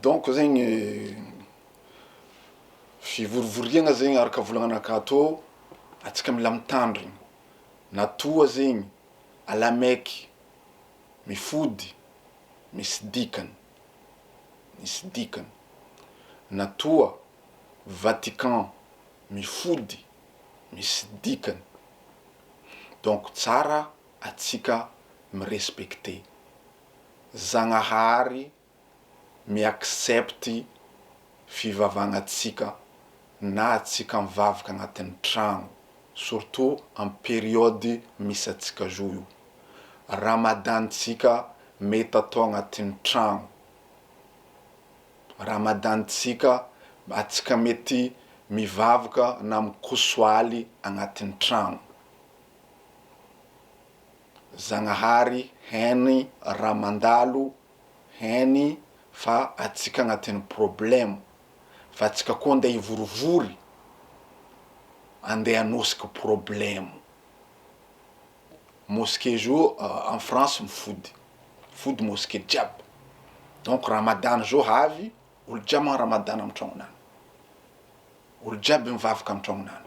Donc zegny fivorivoriagna zegny araka volagnanakà tô, antsika mila mitandrigny na toa zegny alamaiky mifody misy dikany, misy dikany, na toa Vatican mifody misy dikany, donc tsara antsika mi-respecter. Zagnahary mi accepte fivavagnatsika na atsika mivavaka agnatin'ny tragno surtout am periode misy atsika zao io Ramadan tsika mety atao agnatin'ny tragno Ramadan tsika atsika mety mivavaka na mikosoaly agnatin'ny tragno. Zagnahary hany raha mandalo hany fa atsika agnatin'ny problème fa atsika koa andeha hivorivory andeha hanosika problème mosquée zao en France mifody mifody mosquée jiaby donc Ramadan zao avy olo jiaby magnano Ramadan am tragnonany olo jiaby mivavaka am tragnonany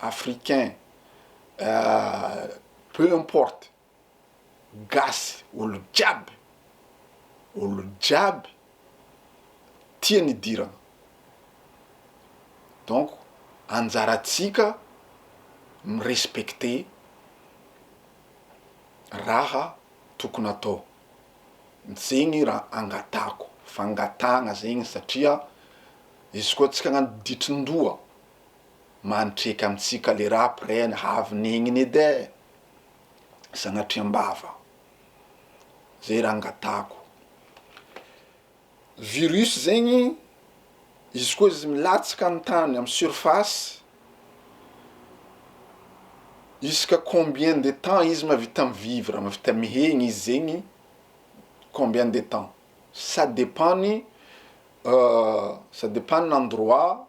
africain, peu importe, gasy, olo jiaby, olo jiaby tia ny idirana, donc anjaratsika mi-respecter raha tokony atao, zegny raha angatahako, fangatahagna zegny satria izy koa tsika agnano ditrindoha Mantreka amintsika le rap ren havy negnina edy eh! Sanatria am-bava aho. Zay raha angatahako. Virus zegny, izy koa izy milatsaka amin'ny tany amin'ny surface, isaka combien de temps izy mahavita mi-vivre, mahavita mihegny izy zegny, combien de temps? Ça dépend ny ça dépend ny endroit.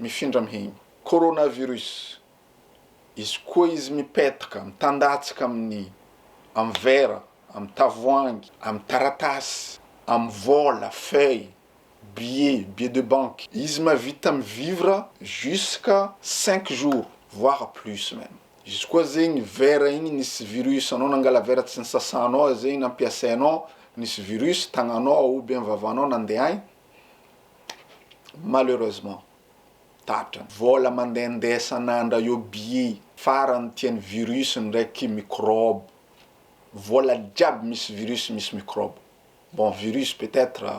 mifindra mihegny. Coronavirus. Izy koa izy mipetaka, mitandatsaka amin'ny, amin'ny vera, amin'ny tavoahangy, amin'ny taratasy, amin'ny vola, feuille, billet, billet de banque. Izy mahavita mi-vivre jusqu'à cinq jours voire plus même. Izy koa zegny vera igny nisy virus anao nangala vera tsy nisasanao zegny nampiasainao, nisy virus tagnanao ou bien vavanao nandehaigny, Malheureusement tapitra ny vola mandehandeha isan'andra io bye farany tia ny virus ndraiky microbe vola jiaby misy virus misy microbe bon virus peut etre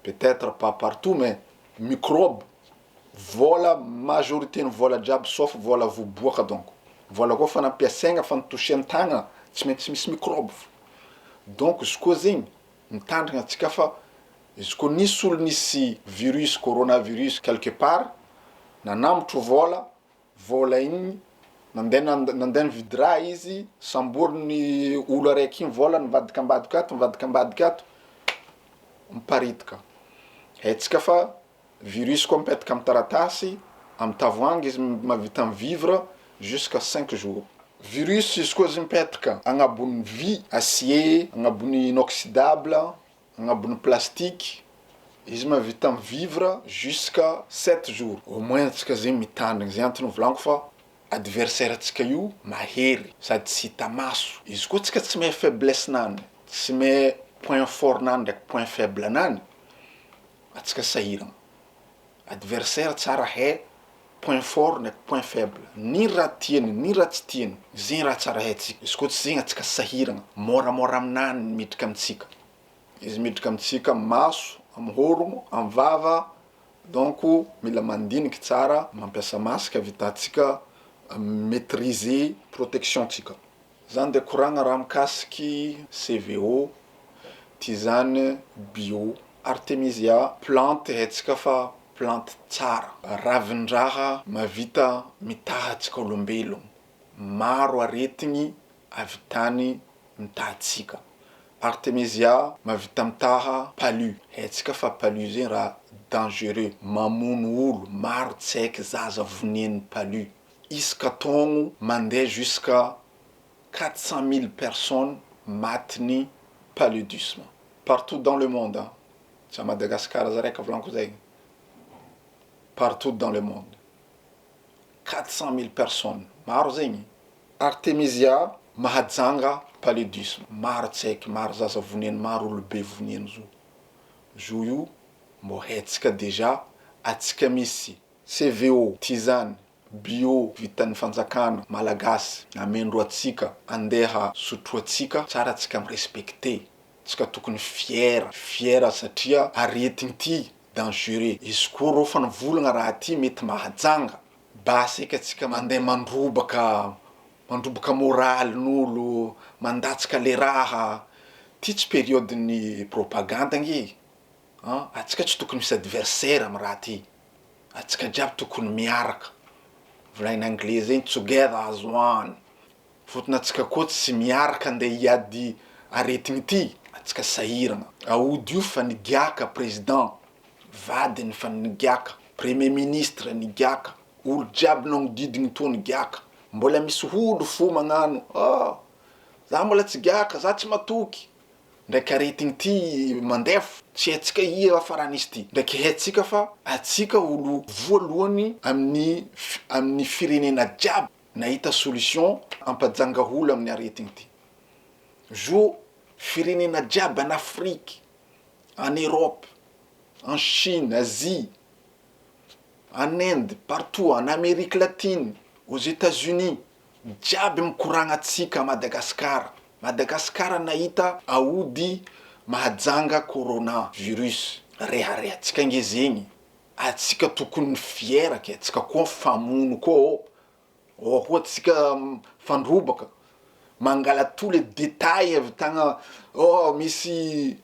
peut etre pas partout mais microbe vola majorité ny vola jiaby sauf vola vo boaka donc vola koa fa nampiasaigna fa ny toucher ny tagna tsy maintsy misy microbe fa donc izy koa zegny Mitandrina antsika fa izy koa nisy olo nisy virus coronavirus quelque part nanambotro vola, vola igny nande nande nividy raha izy samboriny olo araiky igny vola nivadika ambadika ato nivadika ambadika ato miparitaka, haintsika fa. Virus koa mipetaka amin'ny taratasy, amin'ny tavoahangy izy mahavita mi-vivre jusqu'à cinq jours. Virus izy koa izy mipetaka agnabon'ny vy, acier, agnabon'ny inoxydable, agnabon'ny plastique, izy mahavita mi-vivre jusqu'à sept jours. Au moins antsika zegny mitandrigny, zay antony nivolanko fa adversaire antsika io mahery sady tsy hita maso, izy koa antsika tsy mahay faiblesse-nany, tsy mahay point fort-nany ndraiky point faible-nany, Atsika sahirana. Adversaire tsara hay point fort ndraiky point faible ny raha tiany ny raha tsy tiany zegny raha tsara haintsika izy koa tsy zegny atsika sahiragna môramôra aminah ny midriky amitsika izy midriky amitsika amy maso amy hôrogno amy vava donc mila mandiniky tsara mampiasa masque avitatsika mi-maitriser protection tsika. Zany dia koragna raha mikasiky CVO, tisane, bio. Artemisia plante haintsika fa plante tsara. Ravin-draha mahavita mitaha antsika olombelogno. Maro aretigny ahavitany mitaha antsika. Artemisia mahavita mitaha palu, haintsika fa palu zegny raha dangereux, mamono olo, maro tsy haiky zaza voneigny palu. Isaka taogno mandeha jusqu'à quatre cent mille personnes matin'ny paludisme partout dans le monde an! Tsy à Madagascar aza raiky volanko zay partout dans le monde quatre cent mille personnes maro zegny. Artemisia mahajanga paludisme maro tsy haiky maro zaza voniany maro olobe voniany zo zo io mbô hetsika déjà atsika misy CVO, Tsy izany, bio vitan'ny fanjakana, malagasy, amendro atsika, andeha sotroatsika tsara atsika mi respecter tsika tokony fier, fier satria aretigny ty dangereux, izy koa rô fa nivolagna raha ty mety mahajanga, basy eka tsika mandeha mandrobaka, mandrobaka moraly n'olo, mandatsaka le raha, ty tsy periode ny propagande anie an, atsika tsy tokony misy adversaire am raha ty. Antsika jiaby tokony miaraka. Volaina anglais zay ny together as one. Fotony antsika koa tsy miaraka andeha hiady aretina ity. Antsika sahirana. Aody io fa nigiaka président, vadiny fa nigiaka, premier ministre nigiaka, olo jiaby nagnodidiny toa nigiaka. Mbola misy olo fo magnano oh za mbola tsy giaka, za tsy matoky. Ndraiky aretigny ty mandef tsy haitsika ia farany izy ty ndraiky haitsika fa atsika olo voalohany aminy aminy firenena jiaby nahita solution ampajanga olo aminy aretigny ty zo firenena jiaby an afrique an europe an chine asie an inde partout an amerique latine aux etats unis Jiaby mikoragna tsika à Madagascar Madagascar nahita aody mahajanga corona virus rehareha tsika nge zegny atsika tokony fière ke tsika koa mifamono koa ô ô koa tsika mifandrobaka mangala tous les details avy tagna ô misy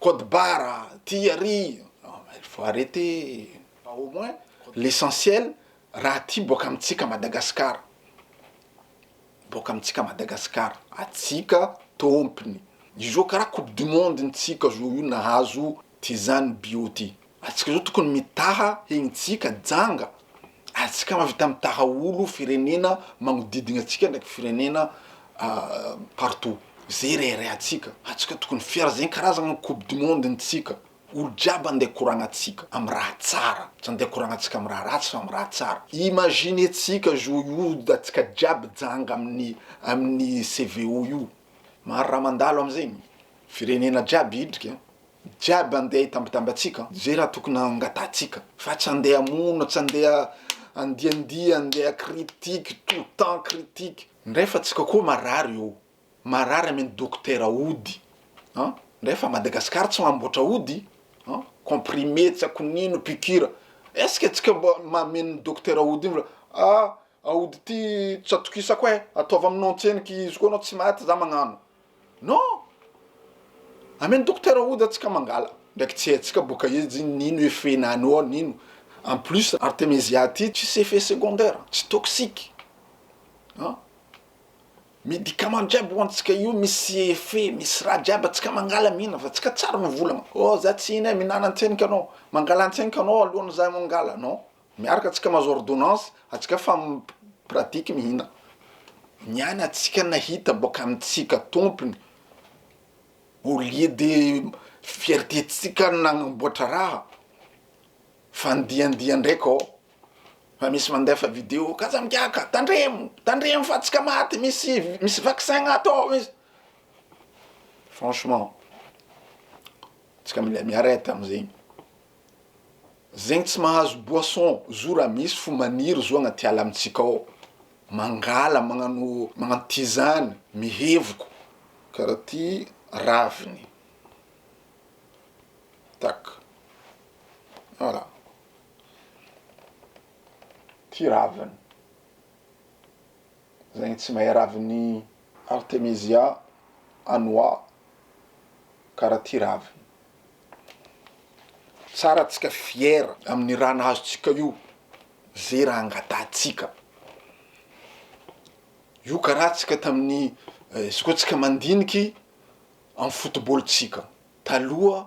code barre ty ary non mais il faut arreter fa au moins l'essentiel Raha aty boaka amintsika Madagasikara, boaka amintsika Madagasikara, atsika tompony, izao karaha coupe du monde ntsika zao io nahazo ty zany bio ty, atsika zao tokony mitaha egny tsika janga, atsika mahavita mitaha olo firenena magnodidigna atsika ndraiky firenena partout, ze reharehatsika, atsika tokony fier zegny karazagna coupe du monde ntsika. Olo jiaby andeha koragna tsika am raha tsara, tsy andeha koragna tsika am raha ratsy fa am raha tsara, imagine tsika zo hioda tsika jiaby janga aminy aminy CVO io, maro raha mandalo am zegny, firenena jiaby hidrika an, jiaby andeha hitambatamba tsika ze raha tokony hangataha tsika fa tsy andeha hamono, tsy andeha handiandia, andeha critique, tout temps critique, ndray fa tsika koa marary eo. Marary amin dokotera ody an! ndray fa Madagascar tsy mamboatra ody an! comprimé tsy aiko nino piqure est-ce que tsika mba mameno dokotera ody iny fa ah! aody ty tsy atokisako eh! ataovy aminao antseniky izy koa anao tsy maty za magnano non! ameno dokotera ody atsika mangala ndraiky tsy haintsika boka izy iny nino effet nano ao nino en plus artemisia ty tsisy effet secondaire tsy toxique an! Medicament jiaby hoantsika io misy effet misy raha jiaby atsika mangala mihinana fa atsika tsara ny volana oh za tsy hihina mihinana antsena ianao mangala antsena ianao alohan'ny za mangala non miaraka atsika mahazo ordonnance atsika fa pratique mihinana ny any atsika nahita boaka amitsika tompony au lieu de fierté tsika nanamboatra raha fandiandia ndraika oh. Fa misy mandefa video ka aza migiaka, tandremo, tandremo fa tsika maty misy misy vaccin ato ao izy, franchement tsika mila mi-arrete amzegny, zegny tsy mahazo boisson zo ra misy fo maniry zo agnaty ala amitsika ao, mangala magnano magnano tizany mihevoko kara ty raviny tak voilà. Ty raviny zegny tsy mahay raviny artemisia anoa kara ty raviny tsara atsika fiera aminy raha nahazo tsika io ze raha angatahantsika io kara tsika taminy izy koa tsika mandiniky amy fotobolontsika taloha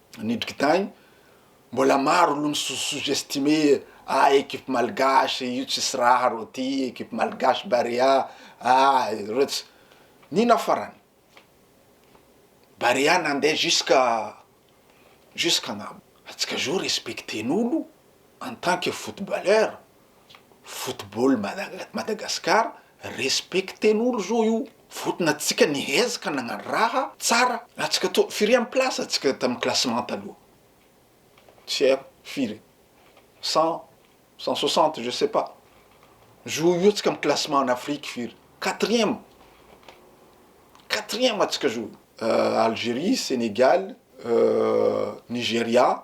Ny dikdany, mbola maro lo mi sous-estimer ah equipe malgache io tsisy raha reo ty, equipe malgache Barea ah reo tsy, nino farany, Barea nande jusqu'à jusqu'à agnambo, antsika zao respecter-n'olo en tant que footballeur. football Mada- Madagascar respecter n'olo zao io votona antsika nihezaka nagnano raha tsara antsika to firy am place antsika tam classement taloha tsy haiko firy cent cent soixante je sais pas zo io antsika am classement en Afrique firy quatrième quatrième antsika zo Algerie Senegal Nigeria